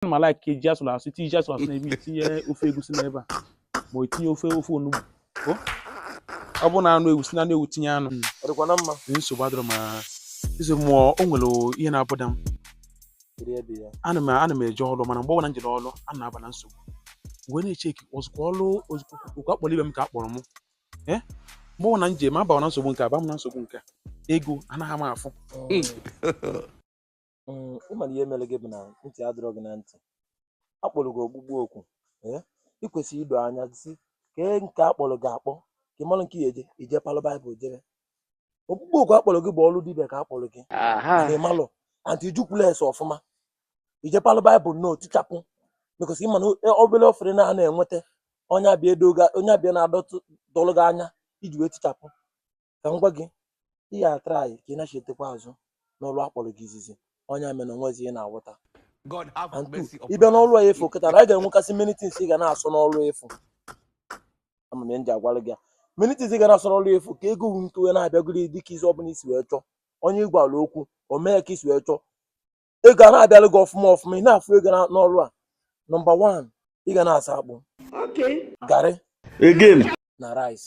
m ma like ka eji asụrụ asụ itinye ji asụrụ asụ n'ebe itinye ofe egusi n'ebe a ma o tinye ofe ofe onugbu o ọ bụrụ na anụ ewu si na anụ ewu tinye anụ ọ dịkwa na mma Ee, nsogbu adịrọ ma eze mmụọ o nwere ihe na-abother m Kedu ebe ya? ana m ana m eje ọrụ mana mgbe ọbụla m jere ọrụ a na-aba na nsogbu wee na-echeki ozugbo ọrụ ozugbo oku a kpọrọ ibe m ka a kpọrọ m ee mgbe ọbụla m je ma abawa na nsogbu nke a ba m na nsogbu nke a ego anaghị m afụ Mm, ị ma na ihe mere gị bụ na ntị adịrọ gị na ntị akpọrọ gị ọkpụkpọ oku ee ị kwesịrị ido anya sị kee nke akpọrọ gị akpọ ka ị mara nke ya eje ije palụ baịbụl jebe ọkpụkpọ oku akpọrọ gị bụ ọrụ dibịa ka akpọrọ gị aha na ịmalụ anti ijukwula ese ọfụma ije palụ baịbụl na-etichapụ because ị ma na obere offering a na-enweta onye abịa edo gị- onye abịa na-adọtụ dọlụ gị anya iji wee tichapụ ka m gwa gị ị ya atraị ka ị nachitekwa azụ n'ọrụ akpọrọ gị izizi onye mere na onwezi ihe na-awụta God have and two mercy upon ịbịa us. n'ọrụ afụ kịta na a ga-enwekasị many things ị ga na-asọ n'ọrụ afụ ama m ihe m ji agwara gị ya many things ị ga na-asọ n'ọrụ afụ ka ego nwee ike wee na-abịagoro gị dịka izu ọbụla i si wee chọọ onye ị gwara okwu o mee ka i si wee chọọ ego a na-abịalụ gị ọfụma ọfụma ị na-afụ ego n'ọrụ a nọmba wan ị ga na-asọ akpụ garị again na rice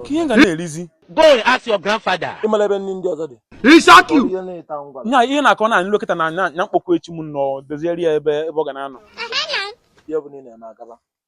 kee ihe ga na-erizi go and ask your grandfather ịmara ebe nri ndị ọzọ dị ihe na-akọ na nlekọta na mkpọkọ echi m nọ doziere ya ebe ebe ọ ga na-anọ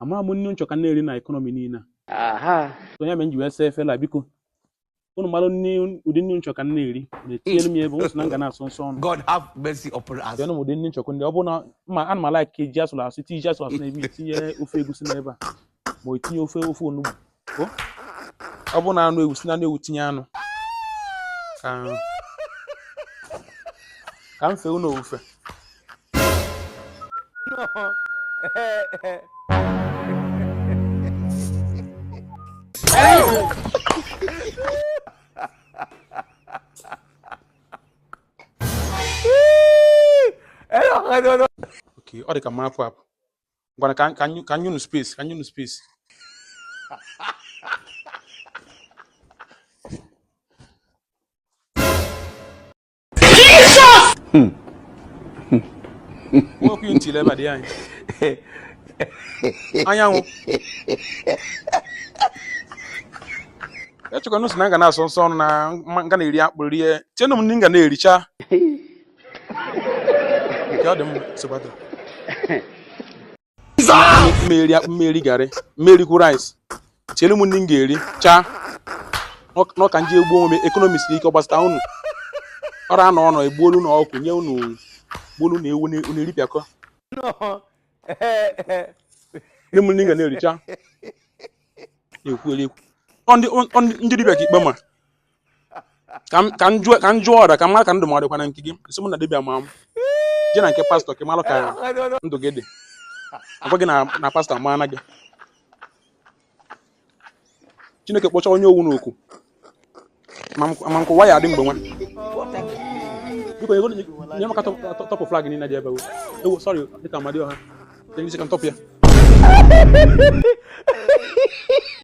amara m nri m chọ ka m na-eri na ekọnọmi niile a so ya mere m ji wee saa efere a biko unu mara ụdị nri m chọ ka m na-eri na-etinyere m ya ebe unu si na m ga na-asọ nsọ ọnụ God have mercy upon us. tinyere m ụdị nri m chọkọ ndị ọ bụrụ na ma ana m alaik ka eji asụrụ asụ tinye ji asụrụ asụ n'ebe itinye ofe egusi n'ebe a ma o tinye ofe ofe onugbu ọ bụ na anụ ewu si na anụ ewu tinye anụ ka ka m fee unu ofufe ọ dị ka m apụ apụ ngwana ka ka ka nye unu space ka nye unu space Jesus! Hmm. Mo ku ntile ba di anyị. Anyanwụ. echekwa n'unu si na m ga na-asọ nsọ ọnụ na m ga na-eri akpụ rie tienụ m ndị m ga na-ericha nke ọ dị mma sokwata m eri akpụ m eri garị m erikwu rice tielu m ndị m ga-ericha n'ọka nji egbuo onwe m ekonomi siri ike ọ gbasata unu ọrụ anọ ọnọ egbuolu na ọkụ nye unu gbuolu na ewu unu eripịakọ ndị m ndị ga na-ericha na-ekwueli ekwu ndị dibịa ka ikpe ma ka m jụọ ọrịa ka m mara ka ndụ m ọ dịkwa na nke gị a sị mụ na dibịa ma m je na nke pastọ ka ị mara ka ndụ gị dị agwa gị na pastọ amaana gị chineke kpọcha onye ọ wụ n'ọkụ ma nke ụwa ya adị mgbe nwa biko ego nye m aka tọpụ flag niile dị ebe ewu sọrị dịka amadịọha ndị isi ka m tọpụ ya